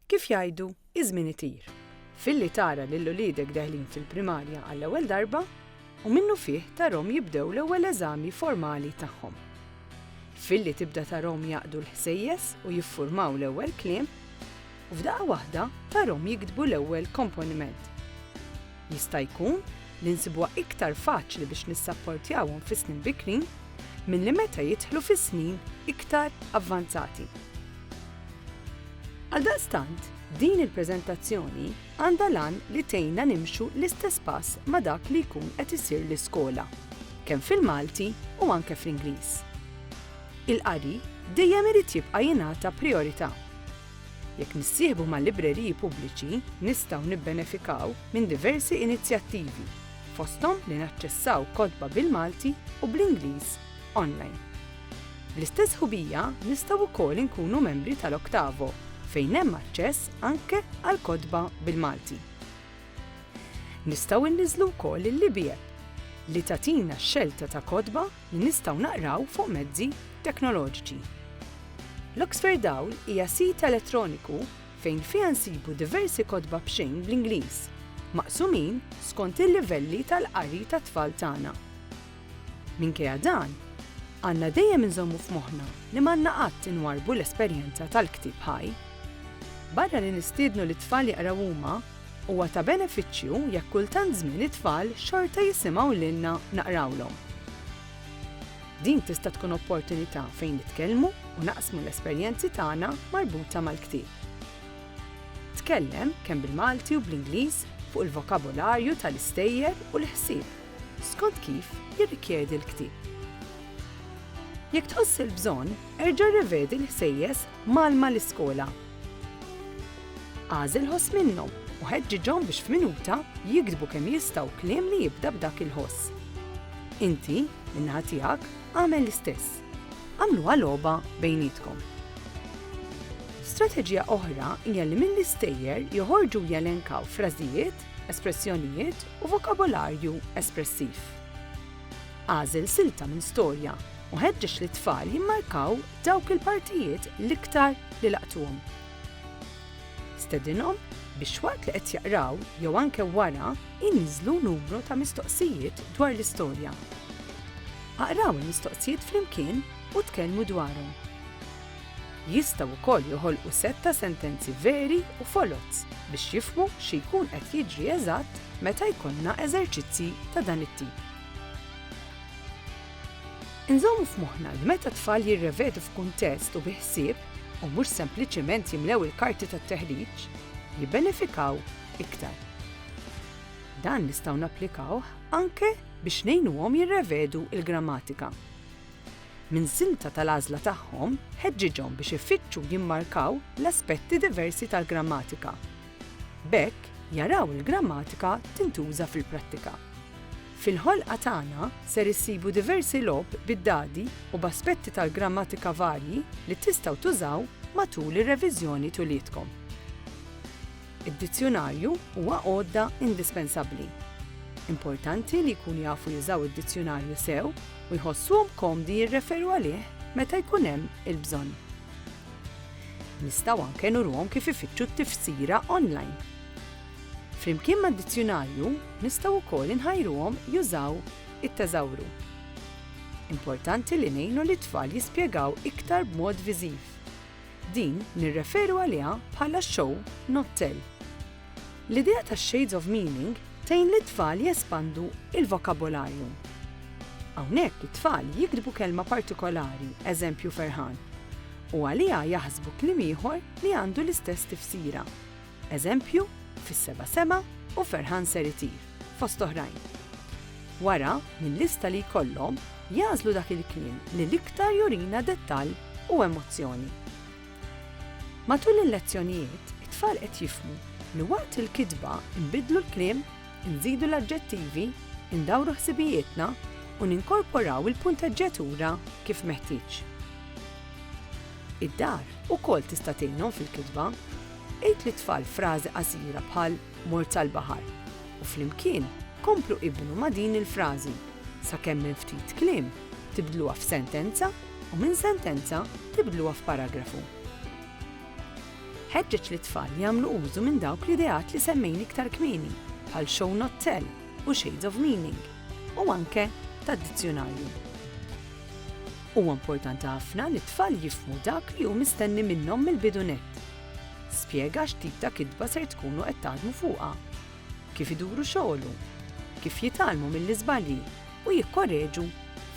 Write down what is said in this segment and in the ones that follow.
Kif jgħidu, iż-żmien itir. Filli tara lil uliedek deħlin fil-primarja għall-ewwel darba u minnufih tarahom jibdew l-ewwel eżami formali tagħhom. Filli tibda tarahom jaqdu l-ħsejjes u jiffurmaw l-ewwel kliem, u f'daqqa waħda tarahom jiktbu l-ewwel komponiment. Jista' jkun li nsibuha iktar faċli biex nissapportjawhom fis-snin bikrin milli meta jidħlu fis-snin iktar avvanzati. Għaldaqstant, din il-preżentazzjoni għandha l-għan li tgħinna nimxu l-istess pass ma' dak li jkun qed isir l-iskola, kemm fil-Malti u anke fl-Ingliż. Il-qari dejjem irid jibqa' jingħata prijorità. Jekk nissieħbu ma' libreriji pubbliċi, nistgħu nibbenefikaw minn diversi inizjattivi, fosthom li naċċessaw kotba bil-Malti u bl-Ingliż online. Bl-istess ħubija nistgħu wkoll inkunu membri tal-Oktavo fejn hemm aċċess anke għal kotba bil-Malti. Nistgħu nniżżlu wkoll il-Libie li tagħtina x-xelta ta' kotba li nistgħu naqraw fuq mezzi teknoloġiċi. L-Oxferdhawl hija sit elettroniku fejn fiha nsibu diversi kotba b'xejn bl-Ingliż, maqsumin skont il-livelli tal-qari tat-tfal tagħna. Minkejja dan, għandna dejjem inżommu f'moħħna li m'għandna qatt inwarrbu l-esperjenza tal-ktieb ħaj. Barra li nistiednu lit-tfal jaqraw huma, Huwa ta' benefiċċju jekk kull tant żmien it-tfal xorta jisimgħu lilna naqrawlhom. Din tista' tkun opportunità fejn nitkellmu u naqsmu l-esperjenzi tagħna marbuta mal-ktieb. Tkellem kemm bil-Malti u bl-Ingliż fuq il-vokabularju tal-istejjer u l-ħsieb skont kif jirrikjedi l-ktieb. Jekk tħoss il-bżonn, erġa' rrevedi l-ħsejjes mal-ma l-iskola Agħżilhos minnhom u ħeġġiġhom biex f'minuta jiktbu kemm jistgħu kliem li jibda b'dak il-ħoss. Inti, min-naħa tiegħek, agħmel l-istess. Agħmluha logħba bejnietkom. Strateġija oħra hija li mill-istejjer joħorġu u jelenkaw frażijiet, espressjonijiet u vokabolarju espressiv. Agħżel silta minn storja u ħeġġeġ lit-tfal jimmarkaw dawk il-partijiet l-iktar li laqtuhom. Stedinhom biex waqt li qed jaqraw jew anke wara jniżżlu numru ta' mistoqsijiet dwar l-istorja. Aqraw il-mistoqsijiet flimkien u tkellmu dwarhom. Jistgħu wkoll joħolqu sett ta' sentenzi veri u foloz biex jifhmu xi jkun qed jiġri eżatt meta jkollna eżerċizzji ta' dan it-tip. Inżommu f'moħħna li meta t-tfal jirrevedu f'kuntest u bi ħsieb, u mhux sempliċement jimlew il-karti tat-teħriġ, jibbenefikaw iktar. Dan nistgħu napplikawh anke biex ngħinuhom jirrevedu l-grammatika. Minn silta tal-għażla tagħhom, ħeġġiġhom biex ifittxu jimmarkaw l-aspetti diversi tal-grammatika. B'hekk, jaraw il-grammatika tintuża fil-prattika. Fil-ħolqa tagħna ser issibu diversi logħob bid-dadi u b'aspetti tal-grammatika varji li tistgħu tużaw matul ir-reviżjoni t'uliedkom. Id-dizzjunarju huwa għodda indispensabbli. Importanti li jkunu jafu jużaw id-dizzjunarju sew u jħossuhom komdi jirreferu għalih meta jkun hemm il-bżonn. Nistgħu anke nuruhom kif ifittxu t-tifsira online. Flimkien mad-dizzjunarju nistgħu wkoll inħajruhom jużaw it-teżawru. Importanti li ngħinu lit-tfal jispjegaw iktar b'mod viżiv. Din nirreferu għaliha bħala show not tell. L-idea tax-shades of meaning tgħin lit-tfal jespandu l-vokabolarju. Hawnhekk it-tfal jiktbu kelma partikolari, eżempju ferħan, u għaliha jaħsbu kliem ieħor li għandu l-istess tifsira. Eżempju, Fis-Seba' Sema u Ferħan Ser Itir, fost oħrajn. Wara, mil-lista li jkollhom, jagħżlu dak il-kliem li l-iktar jurina dettall u emozzjoni. Matul il-lezzjonijiet, it-tfal qed jifhmu li waqt il-kitba nbiddlu l-kliem, inżidu l-aġġettivi, indawru ħsibijietna u ninkorporaw il-punteġġjatura kif meħtieġ. Id-dar ukoll tista' tgħinhom fil-kitba. Għid lit-tfal frażi qasira bħal Mort sal-baħar u flimkien komplu ibnu ma' din il-frażi sakemm minn ftit kliem tibdluha f'sentenza u minn sentenza tibdluha f'paragrafu. Ħeġġeġ lit-tfal jagħmlu użu minn dawk l-ideat li semmejni iktar kmieni bħal show not tell u shades of meaning u anke tad-dizzjunarju. Huwa importanti ħafna li t-tfal jifhmu dak li hu mistenni minnhom mill-bidu nett. Spjega x'tip ta' kitba ser tkunu qed taħdmu fuqha, kif iduru xogħlu, kif jitgħallmu mill-iżbalji u jikkoreġu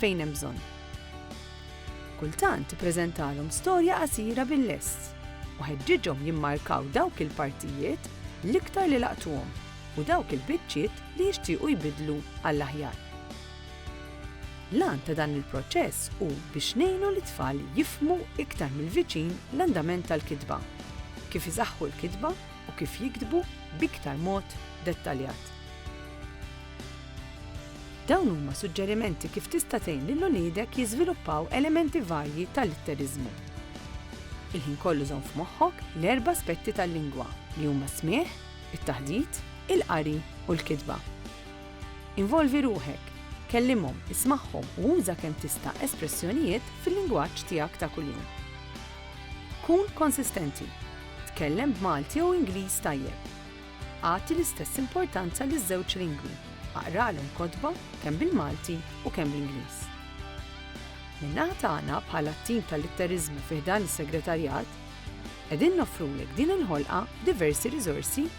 fejn hemm bżonn. Kultant ippreżentalhom storja qasira bil-lest u ħeġġiġhom jimmarkaw dawk il-partijiet l-iktar li laqtuhom u dawk il-biċċiet li jixtiequ jbiddlu għall-aħjar. L-għan ta' dan il-proċess hu biex ngħinu lit-tfal jifhmu iktar mill-viċin l-andament tal-kitba, kif isaħħu l-kitba u kif jiktbu b'iktar mod dettaljat. Dawn huma suġġerimenti kif tista' tgħin lil uliedek jiżviluppaw elementi varji tal-litteriżmu. Il-ħin kollu żomm f'moħħok l-erba' aspetti tal-lingwa, li huma s-smigħ, it-taħdit, il-qari u l-kitba. Involvi ruħek, kellimhom, ismagħhom u uża kemm tista' espressjonijiet fil-lingwaġġ tiegħek ta' kuljum. Kun konsistenti, tkellem b'Malti jew Ingliż tajjeb. Agħti l-istess importanza liż-żewġ lingwi, aqralhom kotba kemm bil-Malti u kemm bl-Ingliż. Min-naħa tagħna bħala t-tim tal-litteriżmu fi ħdan is-Segretarjat, qegħdin noffrulek din il-ħolqa b'diversi riżorsi